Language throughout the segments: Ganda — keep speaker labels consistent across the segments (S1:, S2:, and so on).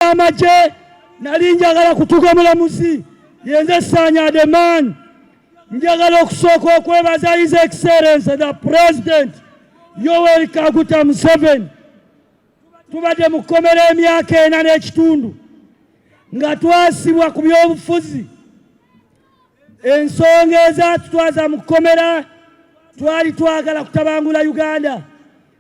S1: amagye nali njagala kutuga mulamuzi yenze sanya the man njagala okusooka okwebaza his excellence the president yoweri kaguta museveni tubadde mu kkomera emyaka ena n'ekitundu nga twasibwa ku by'obufuzi ensonga ezatutwaza mu kkomera twali twagala kutabangula uganda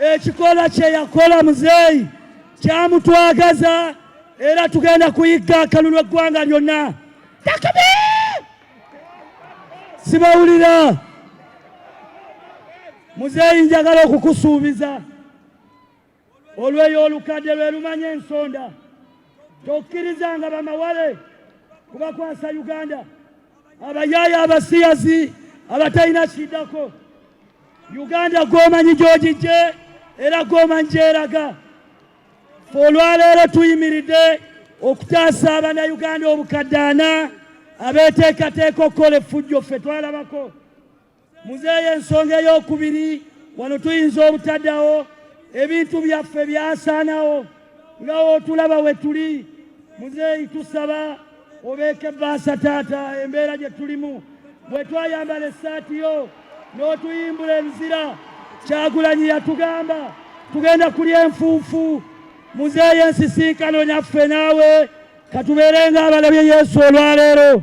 S1: ekikola kye yakola muzeeyi kyamutwagaza era tugenda kuyigga akalulu eggwanga lyonna takbi sibawulira muzeeyi njagala okukusuubiza olweyo olukadde lwe lumanya ensonda tokkirizanga bamawale kubakwasa uganda abayaaye abasiyazi abatalina kiddako uganda gwomanyi gyogijje era gwomanyi gyeraga fe olwaleero tuyimiridde okutaasa abanayuganda obukaddaana abeteekateeka okukola effujjo ffe twalabako Muzeeyi ensonga ey'okubiri wano tuyinza obutadawo ebintu byaffe byasaanawo nga wotulaba we tuli muzeeyi tusaba obeeke baasa taata embeera gye tulimu bwe twayambala essaati yo n'otuyimbula enzira kyagulanyi yatugamba tugenda kulya enfuufu muzeeyi ensisinkano nyaffe naawe katubeerenga abalabye yesu olwaleero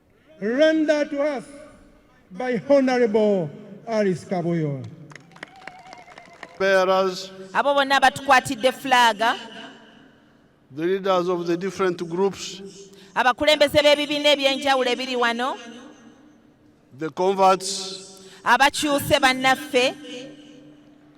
S2: Render to us by Honorable Alice Kabuyo.
S3: Bearers, abo bonna abatukwatidde
S4: fulaaga
S3: the leaders of the different groups, abakulembeze
S4: b'ebibiina eby'enjawulo ebiri wano
S3: the converts, abakyuse
S4: bannaffe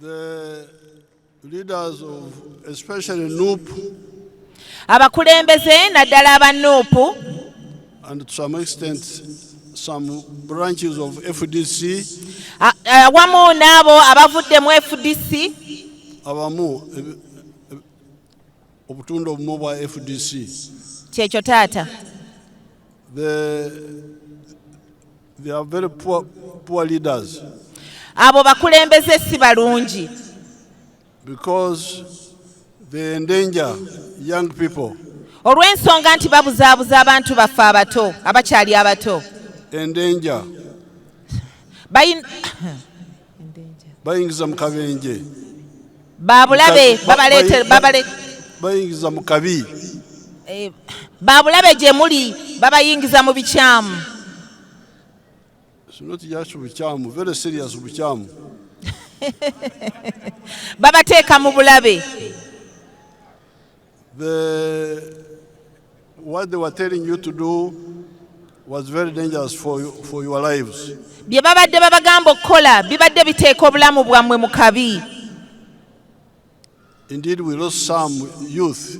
S3: The leaders of especially NUP abakulembeze
S4: naddala aba NUP and
S3: to some extent some branches of FDC awamu
S4: n'abo abavudde mu FDC abamu
S3: obutundu obumu bwa FDC kyekyo
S4: taata the
S3: They are very poor, poor leaders. Abo
S4: bakulembeze si balungi.
S3: Because they endanger young people. Olw'ensonga
S4: nti babuzaabuza abantu baffe abato abakyali abato. Endanger.
S3: Bayin bayingiza mu kabenje
S4: babulabe
S3: bayingiza mu kabi eh, babulabe
S4: gye muli babayingiza
S3: mu bikyamu
S4: babateeka mu bulabe The,
S3: what they were telling you to do was very dangerous for, you, for your lives. bye babadde
S4: babagamba okukola bibadde biteeka obulamu bwammwe mu kabi
S3: Indeed, we lost some youth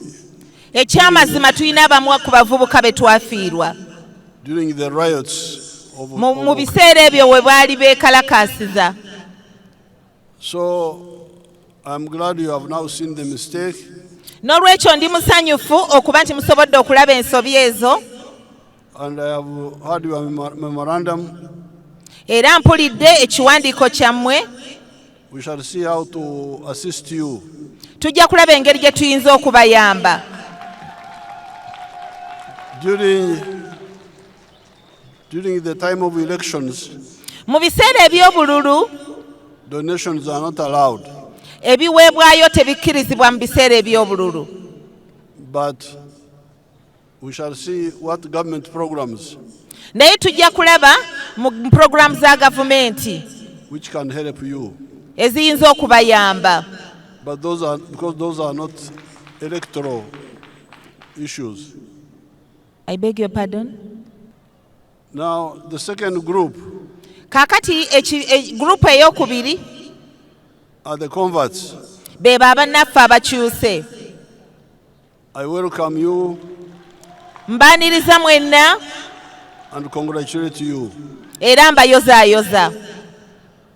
S3: eky'amazima
S4: tulina abamu ku bavubuka be twafiirwa during the
S3: riots of, mu mu of
S4: biseera ebyo we baali beekalakaasiza
S3: So I'm
S4: glad
S3: you have now seen the mistake.
S4: N'olwekyo ndi musanyufu okuba nti musobodde okulaba ensobi ezo. And I
S3: have heard your memorandum. Era
S4: mpulidde ekiwandiiko kyammwe. We shall
S3: see how to assist you. Tujja kulaba
S4: engeri gye tuyinza okubayamba. During
S3: During the time of elections, mu biseera
S4: eby'obululu donations
S3: are not allowed, ebiweebwayo
S4: tebikkirizibwa mu biseera eby'obululu but
S3: we shall see what government programs naye tujja
S4: kulaba mu mu programu za gavumenti which can
S3: help you. eziyinza
S4: okubayamba But those
S3: are because those are not electoral issues.
S4: I beg your pardon. Now
S3: the second group. Kakati
S4: echi, e, group eyokubiri
S3: are the converts. Be baba
S4: naffe abakyuse.
S3: I welcome you.
S4: Mbaniriza mwenna. And
S3: congratulate you. Era mbayoza
S4: yoza.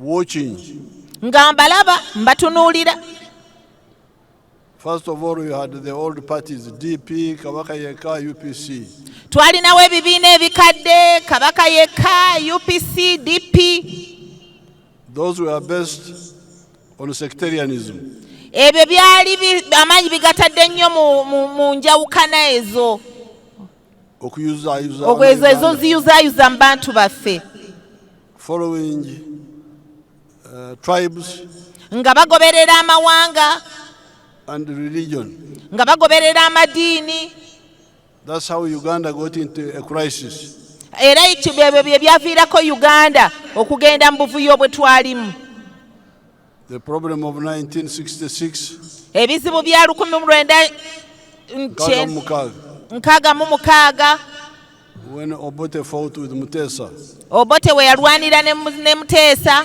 S4: watching
S3: nga mbalaba
S4: mbatunuulira
S3: First of all, we had the old parties, DP, Kabaka Yeka, UPC. Twalinawo
S4: ebibiina ebikadde, Kabaka Yeka, UPC, DP. Those were
S3: based on sectarianism. Ebyo
S4: byali amaanyi bigatadde nnyo mu njawukana ezo. okuyuzaayuzaokwezo ezo ziyuzaayuza mu bantu baffe following
S3: uh, tribes nga bagoberera
S4: amawanga and
S3: religion nga bagoberera
S4: amadiini that's
S3: how uganda got into a crisis era ekyo
S4: byebyo bye byaviirako uganda okugenda mu buvuyo bwe twalimu
S3: ebizibu
S4: bya lukumi mu lwenda nkaaga mu mukaaga When
S3: Obote fought with Mutesa, Obote we
S4: yalwanira ne Mutesa.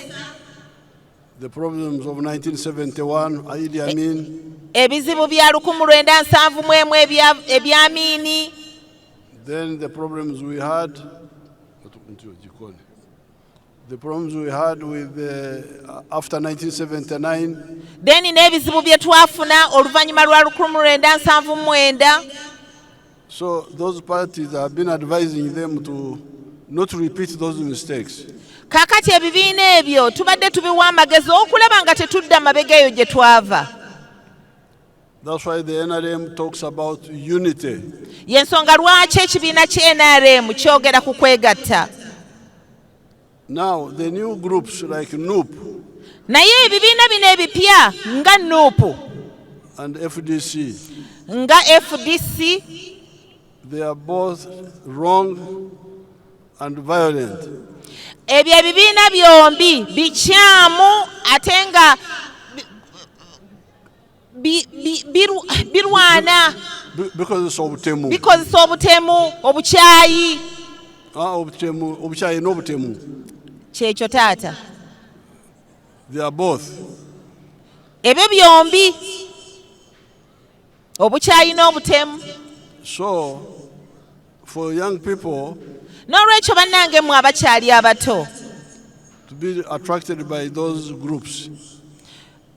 S3: The problems of 1971, Idi Amin. Ebizibu bya
S4: lukumu lwenda nsanvu mu emu ebya Amini. Then
S3: the problems we had Then uh,
S4: n'ebizibu bye twafuna oluvannyuma lwa lukumi lwenda nsanvu mwenda
S3: So those parties have been advising them to not repeat those mistakes. Kakati
S4: ebibiina ebyo tubadde tubiwa amagezi okulaba nga tetudda mabega eyo gye twava.
S3: Y'ensonga
S4: lwaki ekibiina ki NRM kyogera ku kwegatta.
S3: Now the new groups like NUP naye
S4: ebibiina bino ebipya nga NUP and
S3: FDC nga
S4: FDC
S3: they are both wrong and violent ebyo
S4: ebibiina byombi bikyamu ate nga bi- bi- biru- birwana Bi- bikozesa
S3: obutemu bikozesa obutemu
S4: obukyayi Ah, obutemu
S3: obukyayi n'obutemu kyekyo
S4: taata
S3: they are both
S4: ebyo byombi obukyayi n'obutemu so
S3: for young people n'olwekyo
S4: bannange mmwe abakyali abato to
S3: be attracted by those groups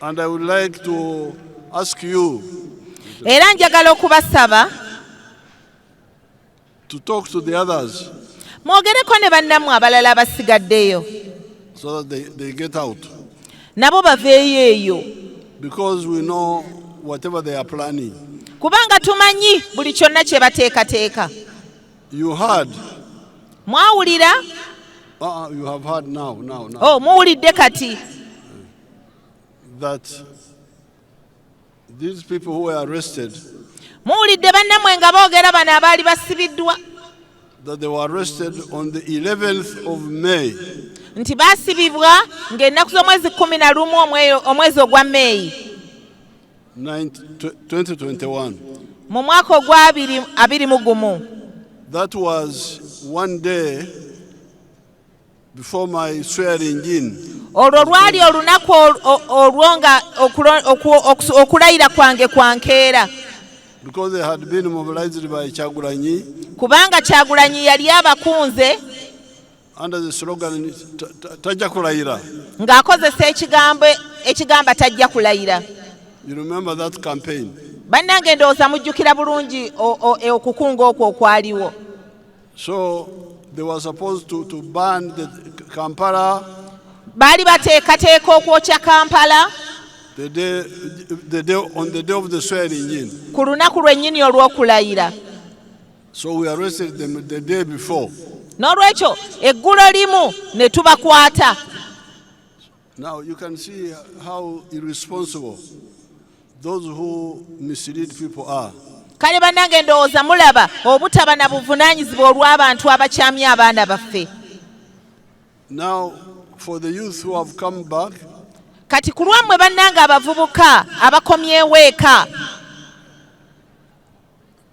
S3: And I would like to ask you era
S4: njagala okubasaba
S3: to talk to the others mwogereko ne
S4: bannammwe abalala abasigaddeyo so that
S3: they, they get out nabo baveeyo
S4: eyo
S3: because we know whatever they are
S4: planning
S3: kubanga
S4: tumanyi buli kyonna kye bateekateeka You
S3: heard. Mwawulira? Uh, uh, you have heard now, now, now. Oh, muwulidde
S4: kati.
S3: That these people who were arrested. Muwulidde
S4: bannamwe nga boogera bano abaali basibiddwa. That they
S3: were arrested on the 11th of May. Nti
S4: baasibibwa ng'ennaku z'omwezi kkumi na lumu omwezi ogwa May. 2021.
S3: mu mwaka
S4: ogwa abiri- abiri mu gumu That
S3: was one day before my swearing in. olwo lwali
S4: olunaku ol- o- olwo nga okulo- oku- okusu- okulayira kwange kwa nkeera Because
S3: they had been mobilized by Chagulanyi kubanga
S4: kyagulanyi yali abakunze under
S3: the slogan tajja kulayira ng'akozesa
S4: ekigambo ekigamba tajja kulayira you remember
S3: that campaign bannange ndowooza
S4: mujjukira bulungi e, okukunga okwo okwaliwo so
S3: they were supposed to, to ban the kampala baali
S4: bateekateeka okwokya kampala the
S3: day, the day, on the day of the swearing in ku lunaku lwennyini
S4: olw'okulayira
S3: So we arrested them the day before. N'olwekyo
S4: eggulo limu ne tubakwata.
S3: Now you can see how irresponsible those who mislead people are. Kale banange
S4: ndowooza mulaba obutaba na buvunaanyizibwa olw'abantu abakyamya abaana baffe.
S3: Now for the youth who have come back. Kati ku
S4: lwammwe bannange abavubuka abakomyewo eka.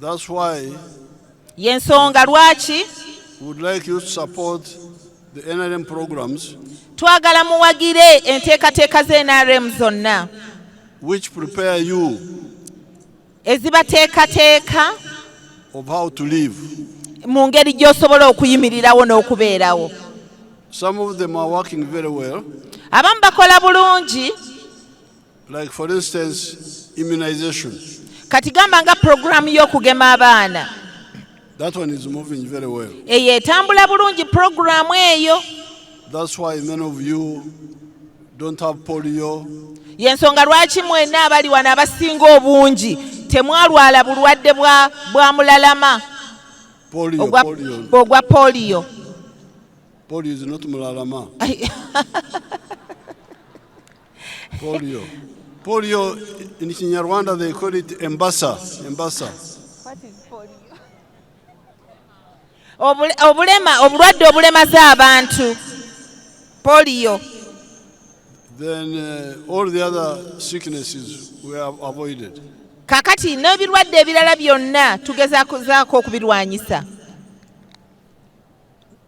S3: That's why yensonga
S4: lwaki would like
S3: you to support the NRM programs twagala
S4: muwagire enteekateeka za NRM zonna which
S3: prepare you ezibateekateeka
S4: of how
S3: to live mu ngeri
S4: gy'osobola okuyimirirawo n'okubeerawo some
S3: of them are working very well abamu bakola
S4: bulungi
S3: Like for instance, immunization. Kati gamba
S4: nga program y'okugema abaana. That
S3: one is moving very well. Eyo etambula
S4: bulungi program eyo. That's why
S3: many of you don't have polio. Yensonga
S4: lwaki mwena abali wano abasinga obungi temwalwala bulwadde bwa bwa mulalama. Polio, ogwa, polio. Ogwa polio.
S3: Polio is not mulalama. Polio. Polio in Kinyarwanda they call it embasa. Embasa.
S4: What is polio? Obulema, obulwadde obulemaza abantu. Polio. Then
S3: uh, all the other sicknesses were avoided. Kakati
S4: n'ebirwadde ebirala byonna tugezaako okubirwanyisa.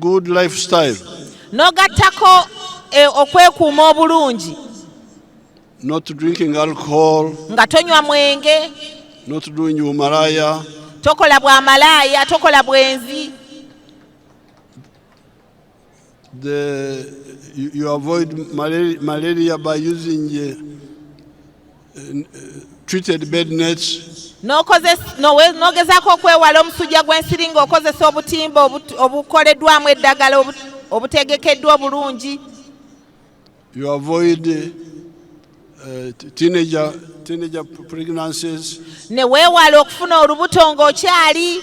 S3: good lifestyle n'ogattako
S4: e, okwekuuma obulungi
S3: not drinking alcohol nga tonywa
S4: mwenge not doing
S3: umalaya tokola bwa
S4: malaaya tokola bwenzi
S3: the you, you avoid malaria, malaria by using uh,
S4: n'ogezaako okwewala omusujja gw'ensiri ng'okozesa obutimba obukoleddwamu eddagala obutegekeddwa obulungi
S3: you avoid uh, teenager, teenager pregnancies ne
S4: weewala okufuna olubuto ng'okyali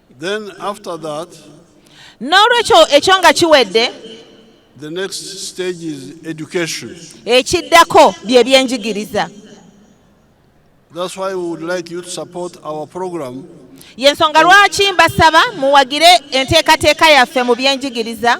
S4: Then after that, n'olwekyo ekyo nga kiwedde the
S3: next stage is education. ekiddako
S4: bye byenjigiriza
S3: That's why we would like you to support our program y'ensonga
S4: lwaki mbasaba muwagire enteekateeka yaffe mu byenjigiriza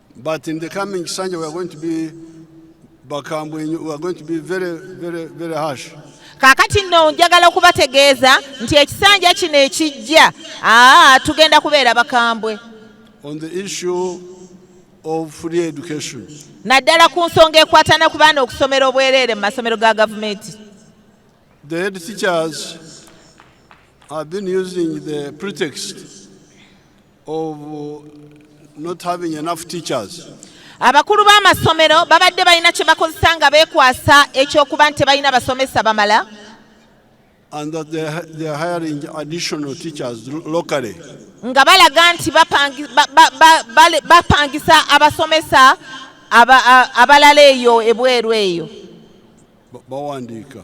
S3: But in the coming Sunday we are going to be bakambwe we are going to be very very very harsh. Kakati nno
S4: njagala okubategeeza nti ekisanja kino ekijja aa tugenda kubeera bakambwe. On the
S3: issue of free education. Naddala ku
S4: nsonga ekwatana ku baana okusomera obwereere mu masomero ga gavumenti.
S3: The head teachers have been using the pretext of uh, not having enough teachers. Abakulu
S4: b'amasomero babadde balina kye bakozesa nga beekwasa eky'okuba nti tebalina basomesa bamala.
S3: And that they, are- they are hiring additional teachers lo- locally. nga balaga
S4: nti bapangi- ba- ba- ba- bale- bapangisa abasomesa aba- a- abalala eyo ebweru eyo Ba-
S3: Bawandiika.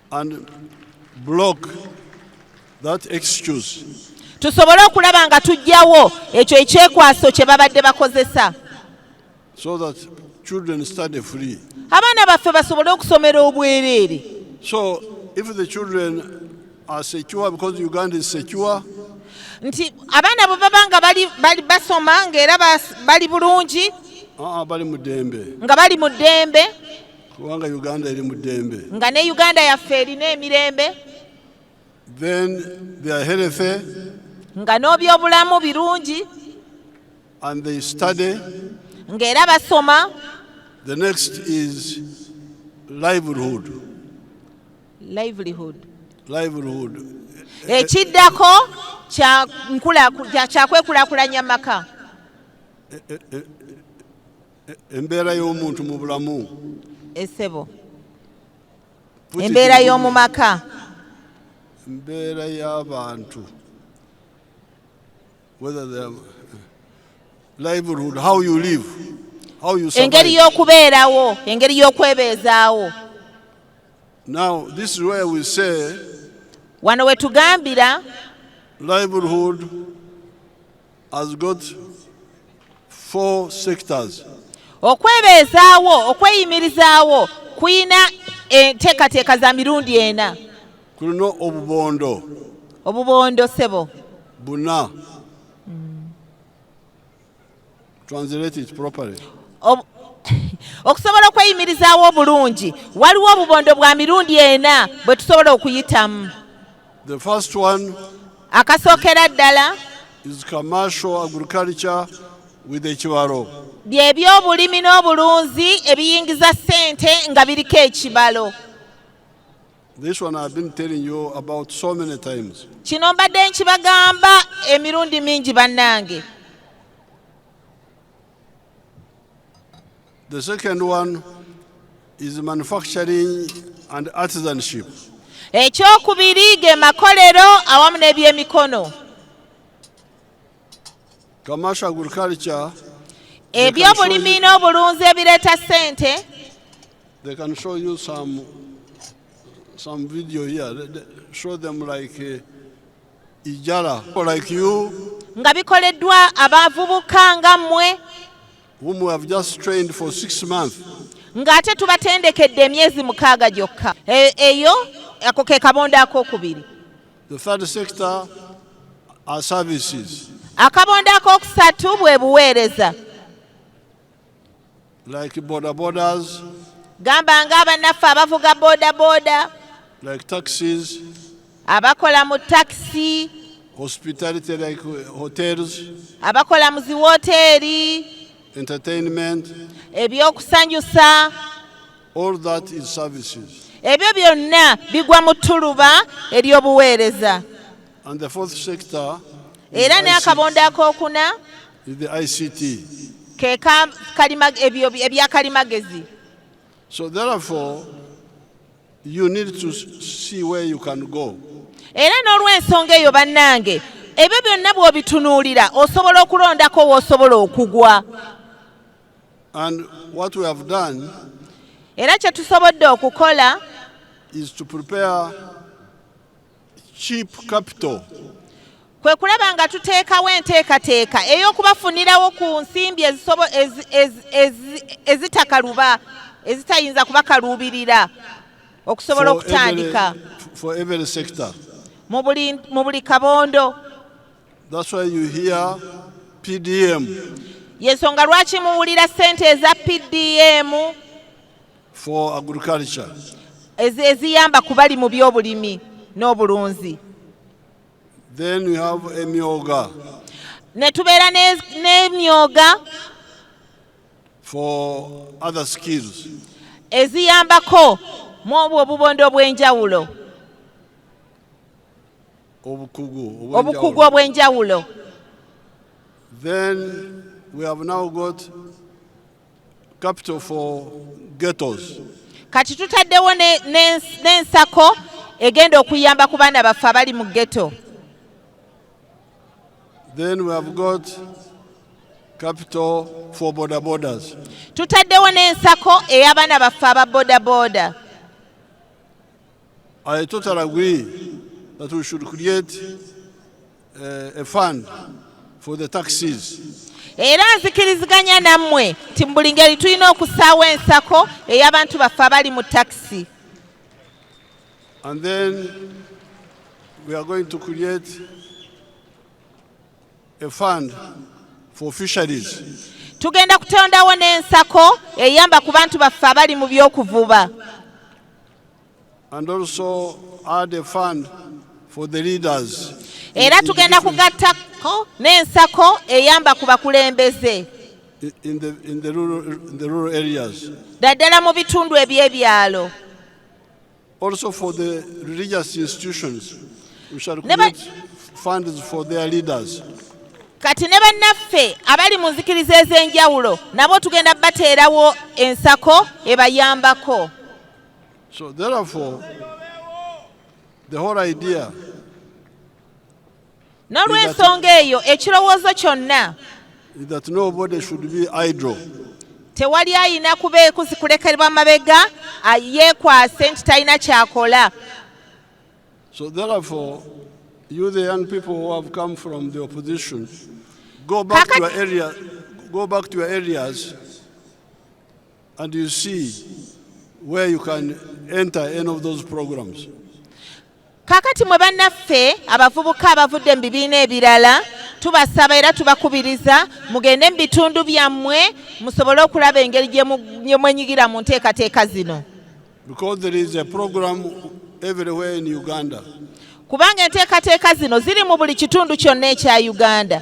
S3: tusobole
S4: okulaba nga tujjawo ekyo ekyekwaso kye babadde bakozesa so
S3: that children study free abaana baffe
S4: basobole okusomera obwereere so
S3: if the children are secure because uganda is secure nti
S4: abaana bwe baba nga bali basoma ngaera bali bulungi ah, ah, bali mu
S3: dembe nga bali mu dembe
S4: kubanga
S3: uganda eri mu ddembe nga ne uganda yaffe
S4: erina emirembe
S3: then they are healthy nga
S4: n'obyobulamu birungi
S3: and they study ng'era
S4: basoma the next
S3: is livelihood
S4: livelihood livelihood ekiddako kyakwekulakulanya maka eh, eh, eh,
S3: embeera y'omuntu mu bulamu esebo
S4: Put it embeera in- y'omu maka
S3: embeera y'abantu whether they are livelihood how you live how you survive. engeri y'okubeerawo
S4: engeri y'okwebeezaawo
S3: now this is where we say wano we
S4: tugambira livelihood
S3: has got four sectors. okwebeezaawo
S4: okweyimirizaawo kulina enteekateeka za mirundi ena kulina
S3: obubondo obubondo
S4: sebo buna
S3: translate it properly Ob okusobola
S4: okweyimirizaawo obulungi waliwo obubondo bwa mirundi ena bwe tusobola okuyitamu The
S3: first one akasookera
S4: ddala is commercial
S3: agriculture with ekibalo by'ebyobulimi
S4: n'obulunzi ebiyingiza ssente nga biriko ekibalo
S3: This one I've been telling you about so many times. kino mbadde
S4: nkibagamba emirundi mingi bannange
S3: The second one is manufacturing and artisanship. ekyokubiri
S4: ge makolero awamu n'ebyemikono
S3: Commercial agriculture,
S4: ebyobulimi n'obulunzi ebireeta ssente they
S3: can show you some some video here. They- they Show them like uh, Ijala, like you. nga bikoleddwa
S4: abavubuka nga mmwe whom we
S3: have just trained for six months ng'ate
S4: tubatendekedde emyezi mukaaga gyokka e, eyo ako ke kabondo ak'okubiri the third
S3: sector are services akabondo
S4: ak'okusatu bwe buweereza
S3: like boda bodas gamba nga
S4: abanaffe abavuga boda boda like
S3: taxis
S4: abakola
S3: mu
S4: taxi
S3: hospitality like uh, hotels abakola mu
S4: ziwooteeri entertainment
S3: ebyokusanyusa all that is services ebyo byonna
S4: bigwa mu ttuluba ery'obuweereza and the
S3: fourth sector era
S4: n'akabondo ak'okuna
S3: ke
S4: ebya kalimagezi so
S3: therefore you need to see where you can go era
S4: n'olw'ensonga eyo bannange ebyo byonna bw'obitunuulira osobola okulondako w'osobola okugwa
S3: and what we have done era kye
S4: tusobodde okukola is to
S3: prepare cheap capital kwe
S4: kulaba nga tuteekawo enteekateeka ey'okubafunirawo ku nsimbi ezitakaluba ezitayinza kubakaluubirira okusobola okutandika mu buli kabondo
S3: yensonga
S4: lwaki muwulira ssente eza pdm
S3: for agriculture
S4: eziyamba kubali mu byobulimi n'obulunzi
S3: then we have emyoga ne
S4: tubeera n'emyoga
S3: for other skills eziyambako
S4: mu obwo obubondo obw'enjawulo obukugu obw'enjawulo then
S3: we have now got kati
S4: tutaddewo n'ensako egenda okuyamba ku baana baffe abali mu ghetto
S3: Then we have got capital for border borders. Tutaddewo
S4: n'ensako ey'abaana baffe aba boda boda.
S3: I totally agree that we should create uh, a fund for the taxis era
S4: nzikiriziganya nammwe nti mu buli ngeri tulina okusaawo ensako ey'abantu baffe abali mu takisi
S3: and then we are going to create a fund for fisheries tugenda
S4: kutondawo n'ensako eyamba ku bantu baffe abali mu by'okuvuba
S3: And also add a fund for the leaders. Era tugenda
S4: kugattako n'ensako eyamba ku bakulembeze in the,
S3: in the rural, in the rural areas. Daddala mu bitundu
S4: eby'ebyalo.
S3: Also for the religious institutions, we shall create funds for their leaders. Kati ne
S4: bannaffe abali mu nzikiriza ez'enjawulo nabo tugenda bateerawo ensako ebayambako.
S3: So therefore, the whole idea
S4: nolwensonga eyo ekirowoozo kyonna
S3: tewali
S4: ayina kubeekusi kulekerwa mabega yeekwase nti talina kyakola
S3: So therefore, you the young people who have come from the opposition, go back to your area, go back to your areas And you see where you can enter any of those programs.
S4: Kakati mwe bannaffe abavubuka abavudde mu bibiina ebirala tubasaba era tubakubiriza mugende mu bitundu byammwe musobole okulaba engeri gye mwenyigira mu nteekateeka zino
S3: kubanga
S4: enteekateeka zino ziri mu buli kitundu kyonna ekya uganda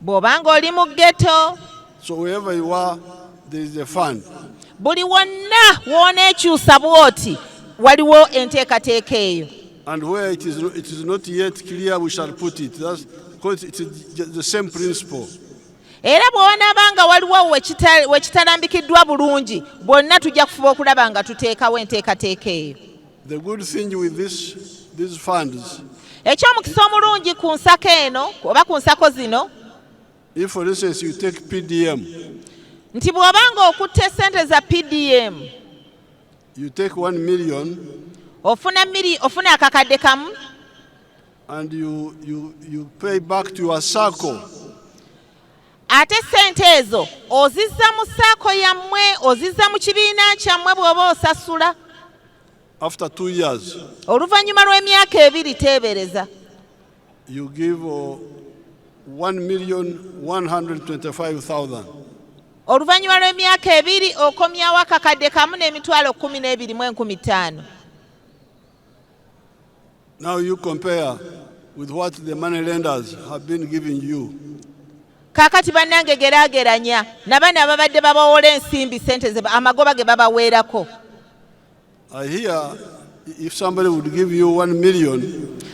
S3: bw'oba
S4: ng'oli mu ghetto so wherever you
S3: are there is a fund buli wonna
S4: w'oneekyusa bw'oti waliwo enteekateeka eyo and where it is,
S3: it is not yet clear we shall put it That's, because it is the same principle era
S4: bw'onaaba nga waliwo wekitalambikiddwa bulungi bwonna tujja kufuba okulaba nga tuteekawo enteekateeka eyo The good thing
S3: with this, these funds, eky'omukisa
S4: omulungi ku nsako eno oba ku nsako zino if for
S3: instance you take PDM, nti
S4: bw'oba ng'okutte ssente za pdm
S3: you take one million ofuna miri
S4: ofuna akakadde kamu
S3: and you, you, you pay back to your circle ate
S4: ssente ezo ozizza mu saako yammwe ozizza mu kibiina kyammwe bw'oba osasula
S3: oluvannyuma lw'emyaka
S4: ebiri teebereza you
S3: give uh, 1,125,000 oluvannyuma
S4: lw'emyaka ebiri okomyawo akakadde kamu n'emitwalo kkumi n'ebiri mu enkumi ttaano
S3: Now you compare with what the money lenders have been giving you. Kakati
S4: banange gerageranya nabana ababadde babawola ensimbi sente ze amagoba ge babaweerako.
S3: I hear if somebody would give you 1 million.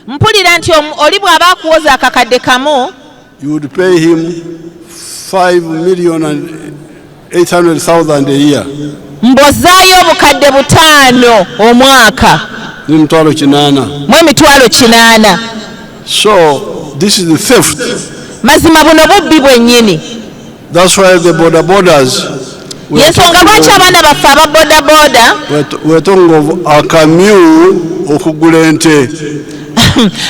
S3: Mpulira
S4: nti oli bw'aba akuwoza akakadde kamu. You would pay
S3: him 5 million and 800,000 a year. Mbozayo
S4: obukadde butaano omwaka. Ni mitwalo
S3: kinana. Mwe mitwalo
S4: kinana. So
S3: this is the theft. Mazima buno
S4: bubbi bwenyini. That's why
S3: the border borders yensonga
S4: lwaki abaana baffe aba bodaboda wetongovu
S3: akamyu okugula ente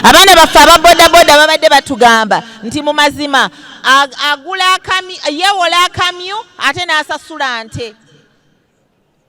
S4: abaana baffe aba bodaboda babadde batugamba nti mu mazima agula akamyu yewola akamyu ate n'asasula nte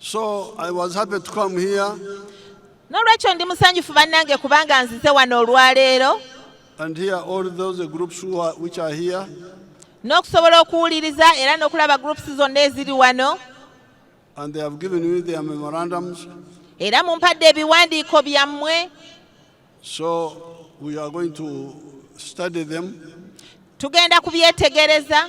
S3: So I was happy to come here. N'olwekyo
S4: ndi musanyufu bannange kubanga nzize wano olwaleero. And here
S3: all those groups who are, which are here. N'okusobola
S4: okuwuliriza era n'okulaba groups zonna eziri wano. And they
S3: have given me their memorandums. Era mumpadde
S4: ebiwandiiko byammwe. So
S3: we are going to study them. Tugenda
S4: kubyetegereza.